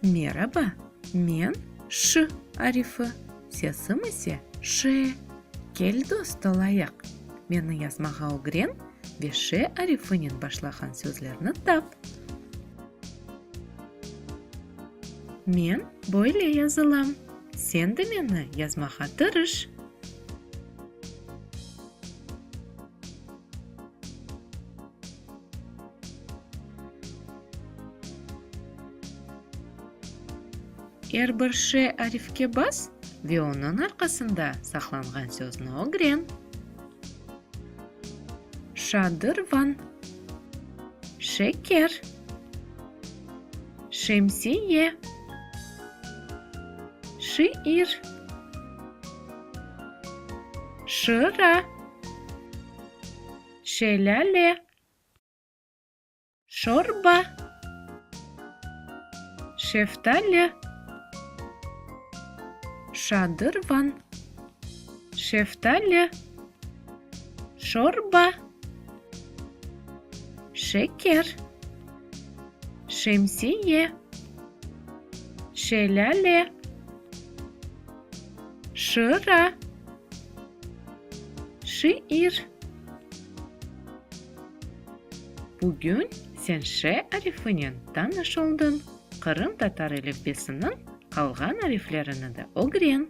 Meraba, men ş arifi, sesim ise ş. Kel dost olayıq, meni yazmağa ögren ve ş arifinen başlağan sözlerni tap. Men böyle yazılam. Sen de meni yazmağa tırış. Er bir şe arifke bas ve onıñ arqasında saqlanğan sözni ögren. Şadırvan, şeker. Şemsiye. Şiir. Şıra. Şelâle. Şorba. Şeftali. Şadırvan. Şeftali. Şorba. Şeker. Şemsiye, şelâle, şıra, şiir. Bugün sen ş arifinen tanış oldıñ, qırımtatar elifbesiniñ qalğan ariflerini de ögren.